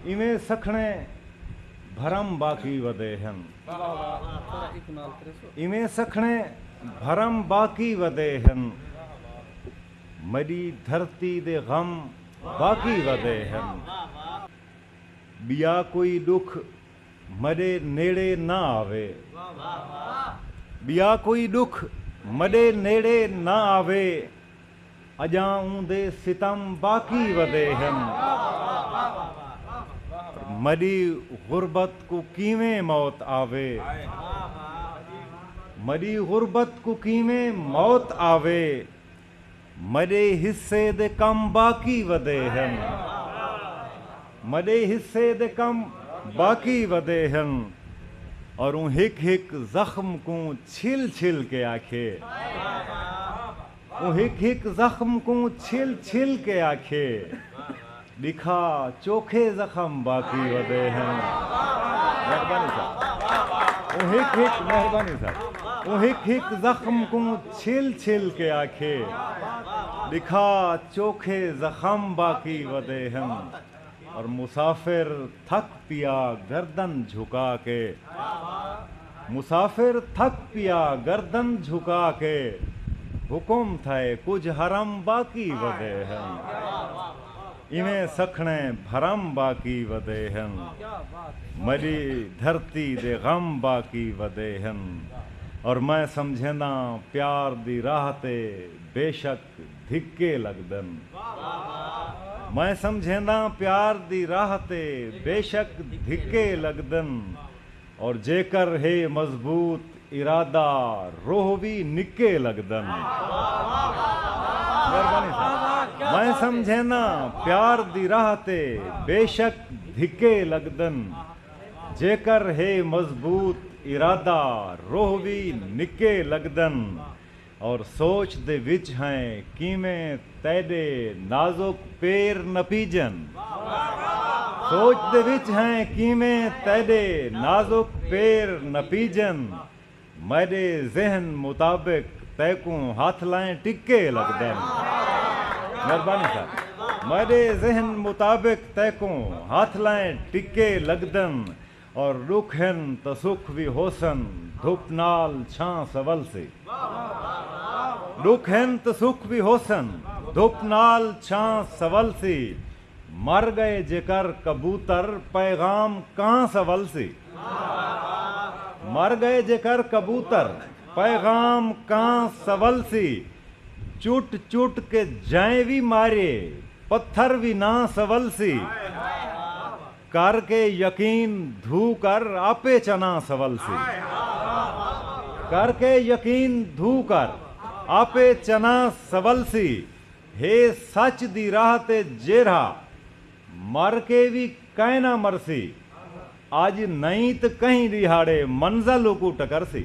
ایویں سکھڑے بھرم باقی ودے ہن۔ ایویں سکھڑے بھرم باقی ودے ہن۔ میݙی دھرتی دے غم باقی ودے ہن۔ ٻیا کوئی ݙکھ میݙے نیڑے نہ آوے۔ ٻیا کوئی ݙکھ میݙے نیڑے نہ آوے۔ اجاں اوندے ستم باقی ودے ہن پر مڈی غربت کوں کیویں موت آوے مڈی غربت کوں کیویں موت آوے مڈے حصے دے کم باقی ودے ہن۔ مڈے حصے دے کم باقی ودے ہن اور اوں ہک ہک زخم کوں چھل چھل کے آکھیے اوں ہک ہک زخم کوں چھل چھل کے آکھیے ڈکھا چوکھے زخم باقی ودے ہن مہربانی صاحب اوں ہک ہک مہربانی صاحب اوں ہک ہک زخم کوں چھل چھل کے آکھیے ڈکھا چوکھے زخم باقی ودے ہن اور مسافر تھک پیا گردن جھکا کے مسافر تھک پیا گردن جھکا کے حکم تھئے کجھ حرم باقی ودے ہن ایویں سکھنے بھرم باقی ودے ہن ملی دھرتی دے غم باقی ودے ہن اور میں سمجھینداں پیار دی راہ تے بیشک تے دھکے لگدن۔ میں سمجھینداں پیار دی راہ تے بیشک دھکے لگدن اور جیکر ہے مضبوط ارادہ روہ وی نکے لگدن۔ مہربانی ساں۔ میں سمجھینداں پیار دی راہ تے بیشک دھکے لگدن جیکر ہے مضبوط ارادہ روہ وی نکے لگدن اور سوچ دے وچ ہیں کیویں تیڈے نازک پیر نپیجن۔ سوچ دے وچ ہیں کیویں تیڈے نازک پیر نپیجن۔ میڈے ذہن مطابق تیکوں ہتھ لائیں ٹکے لگدن۔ مہربانی صاحب۔ میڈے ذہن مطابق تیکوں ہتھ لائیں ٹکے لگدن۔ اور ڈکھ ہن تاں سکھ وی ہوسن دھپ نال چھاں سولسی ڈکھ ہن تاں سکھ وی ہوسن دھپ نال چھاں سولسی مر گئے جیکر کبوتر پیغام کاں سولسی مر گئے جیکر کبوتر پیغام کاں سولسی چٹ چٹ کے جئیں وی ماریے پتھر وی ناں سولسی۔ کر کے یقین دھو کر آپے چناں سولسی۔ کر کے یقین دھو کر آپے چناں سولسی ہے سچ دی راہ تے جیرھا مر کے وی کائنا مرسی اج نئیں تے کہیں ڈیہاڑے منزل اکوں ٹکرسی۔